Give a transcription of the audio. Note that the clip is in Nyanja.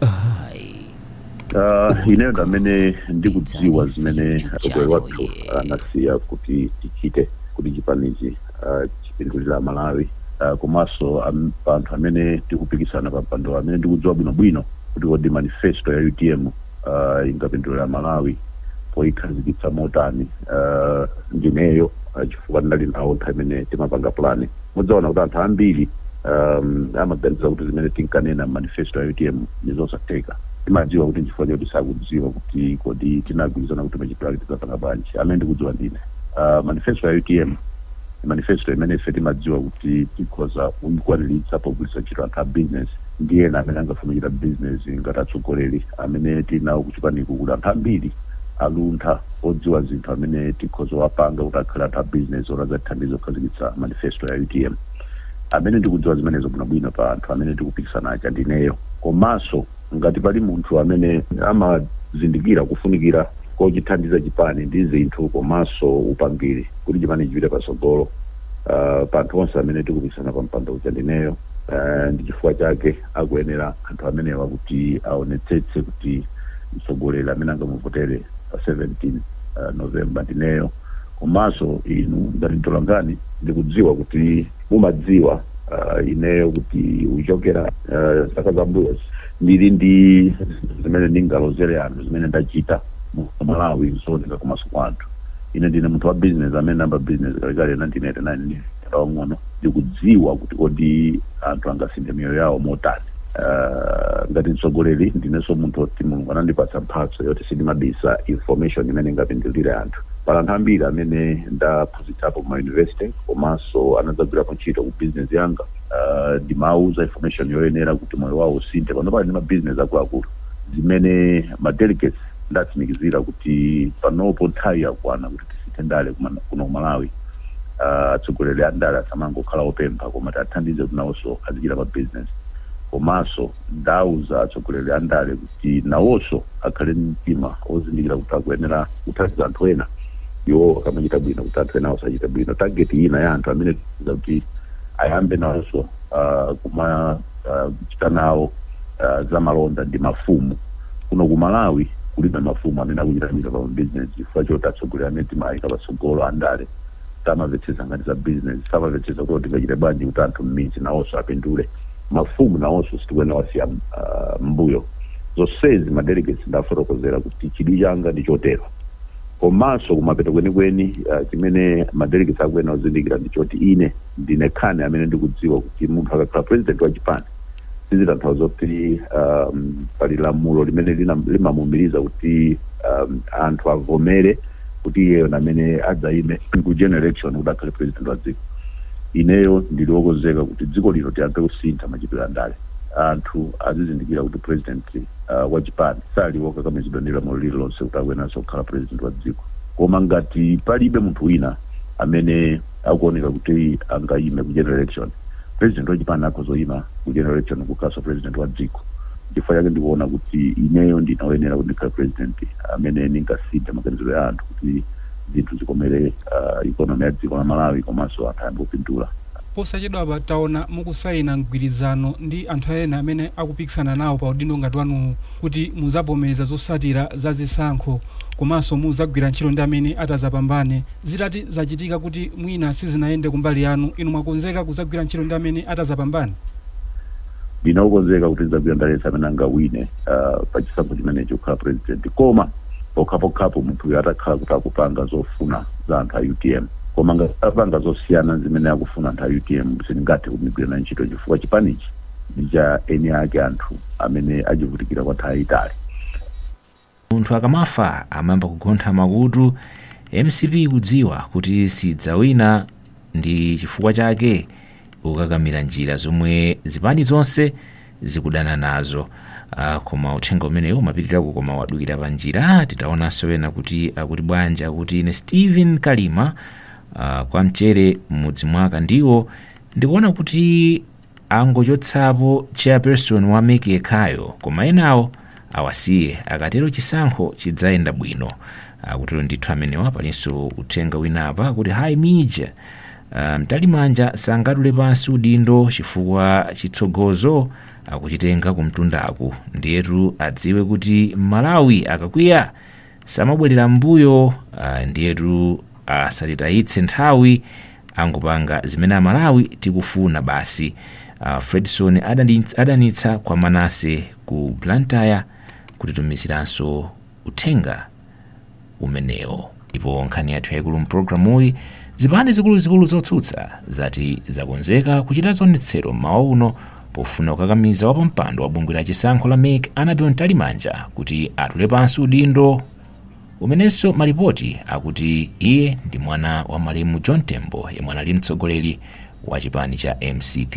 Ayi. Ah, ineyo ndamene ndikudziwa zimene mtsogoleri wathu anasiya kuti tichite kuti chipanichi ah, chipindulire malawi Ah, komanso am- pa anthu amene tikupikisana pa mpando amene ndikudziwa bwinobwino kuti kodi manifesto ya utm ah, ingapindulire malawi poyikhazikitsa motani Ah, ndineyo ah, chifukwa ndinali nawo nthawi imene timapanga pulani Mudzaona kuti anthu ambiri um, amaganiza kuti zimene tinkanena mmanifesto ya utm ndi zosatheka timadziwa kuti nchifukwa choti sakudziwa kuti kodi tinagwirizana kuti machitidwe ake tidzapanga bwanji amene ndikudziwa ndine uh, manifesto ya utm manifesto imene ife timadziwa kuti tikhoza kuyikwaniritsa pogwiritsa ntchito anthu a business ndi ena amene angafuna kuchita business ngati atsogoleri amene tili nawo kuchipaniku kuli anthu ambiri aluntha, odziwa zinthu amene tikhoza kuwapanga kuti akhale anthu a bizinesi oti adzatithandize kukhazikitsa manifesto ya utm. Amene ndikudziwa zimenezo bwinobwino pa anthu amene tikupikisana aja ndineyo. Komanso ngati pali munthu amene amazindikira kufunikira kochithandiza chipani ndi zinthu komanso upangiri kuti chipani chipite patsogolo pa anthu onse amene tikupikisana pa mpando uja ndineyo. Ndi chifukwa chake akuyenera. anthu amenewa kuti aonetsetse kuti mtsogoleri amene angamuvotere pa 17 November ndineyo komanso inu ngati mtolankhani ndikudziwa kuti mumadziwa uh, ineyo kuti kuchokera uh, zaka zambuyozi ndili ndi zinthu zimene ndingalozere anthu zimene ndachita mu Malawi zooneka komanso kwa anthu ine ndine munthu wa business amene ndinayamba business kalekale 1989 mnyamata wamng'ono ndikudziwa kuti kodi anthu angasinthe miyoyo yawo motani. Uh, ngati mtsogoleri ndinenso munthu oti mulungu anandipatsa mphatso yoti sindimabisa information imene ingapindulire anthu pali anthu ambiri amene ndaphunzitsapo ma university komanso anadzagwirapo ntchito ku business yanga uh, ndimawuza information yoyenera kuti moyo wawo usinthe panopa ali ndi mabizinesi akuluakulu zimene ma delegates ndawatsimikizira kuti panopo nthawi yakwana kuti tisinthe ndale kuman- kuno kumalawi Ah, atsogoleri a ndale asamangokhala opempha koma tiathandize kuti nawonso azichita ma business komanso ndauza atsogoleri a ndale kuti nawonso akhale ndi mtima ozindikira kuti akuyenera kuthandiza anthu ena iwo akamachita bwino kuti anthu enawo azichita bwino target ina ya anthu amene tiza kuti ayambe nawonso ah, kuma ah, kuchita nawo ah, za malonda ndi mafumu Kuno ku Malawi kulibe mafumu amene akuchita bwino pa mabizinezi chifukwa choti atsogoleri amene timaayika patsogolo, andale, samavetsetsa nkhani za bizinezi, samavetsetsa kuti tingachite bwanji kuti anthu mmidzi nawonso apindule. Mafumu nawonso sitikuyenera kuwasiya mmbuyo. Zonsezi ma delegates ndawafotokozera kuti chidwi changa ndi chotero. Komanso kumapeto kwenikweni chimene ma delegates akuyenera kuzindikira ndi choti ine ndine ndekha amene ndikudziwa kuti munthu akakhala president wa chipani, sizitanthauza kuti um, pali lamulo limene lina- limamuumiriza kuti um, anthu avomere kuti iyeyo ndi amene adzaime ku general election kuti akhale president wa dziko ineyo ndili wokonzeka kuti dziko lino tiyambe kusintha machitidwe a ndale anthu azizindikira kuti president uh, wa chipani sali wokakamizidwa ndi lamulo lililonse kuti akuyeneranso kukhala president wa dziko koma ngati palibe munthu wina amene akuoneka kuti angayime ku general election. President wa chipani akhoza kuyima ku general election nkukhalanso president wa dziko. Nchifukwa chake ndikuona kuti ineyo ndine oyenera kuti ndikhale president amene ndingasinthe maganizo ya anthu kuti zinthu zikomere uh, economy ya dziko la Malawi komanso anthu ayambe kupindula. Posachedwapa taona mukusayina mgwirizano ndi anthu ena amene akupikisana nawo pa udindo ngati wanuwu kuti muzavomereza zosatira za zisankho komanso muzagwira ntchito ndi amene atazapambane. Zitati zachitika kuti mwina sizinayende kumbali yanu, inu mwakonzeka kudzagwira ntchito ndi amene atadzapambane? Ndine wokonzeka kuti ndidzagwira ndi aliyense amene angawine pa chisankho chimenechi kukhala Purezidenti koma pokhapokhapo munthuyo atakhala kuti akupanga zofuna za anthu a utm. Koma ngati apanga zosiyana ndi zimene akufuna anthu a utm sindingathe kugwira naye ntchito chifukwa chipanichi ndi cha eni ake anthu amene achivutikira kwa nthawi yayitali. Munthu akamafa amayamba kugontha makutu, mcp ikudziwa kuti sidzawina ndi chifukwa chake ikukakamira njira zomwe zipani zonse zikudana nazo. Aaa koma uthenga umenewu umapitirirako koma wadukira pa njira titaonanso wina kuti akuti bwanji akuti ine Steven Kalima aah kwa Mchere mmudzi mwa Kandiwo ndikuona kuti Angochotsapo chairperson wa mec yekhayo koma enawo awasiye akatero chisankho chidzayenda bwino. Akutero ndithu amenewa palinso uthenga wina apa kuti Hi Mij. Mtalimanja sangatule pansi udindo chifukwa chitsogozo akuchitenga kumtundaku ndiyetu adziwe kuti Mmalawi akakwiya samabwerera mbuyo ah, ndiyetu asatitayitse nthawi angopanga zimene amalawi tikufuna basi ah, fredson adanitsa kwa manase ku blantyre kutitumiziranso uthenga umenewo ndipo nkhani yathu yaikulu mpulogalamuyi zipani zikuluzikulu zotsutsa zati zakonzeka kuchita zionetsero mmawa uno pofuna kukakamiza wapampando wa bungwe la chisankho la mec Annabel Mtalimanja kuti atule pansi udindo umenenso malipoti akuti iye ndi mwana wa malemu john tembo yemwe anali mtsogoleri wa chipani cha mcp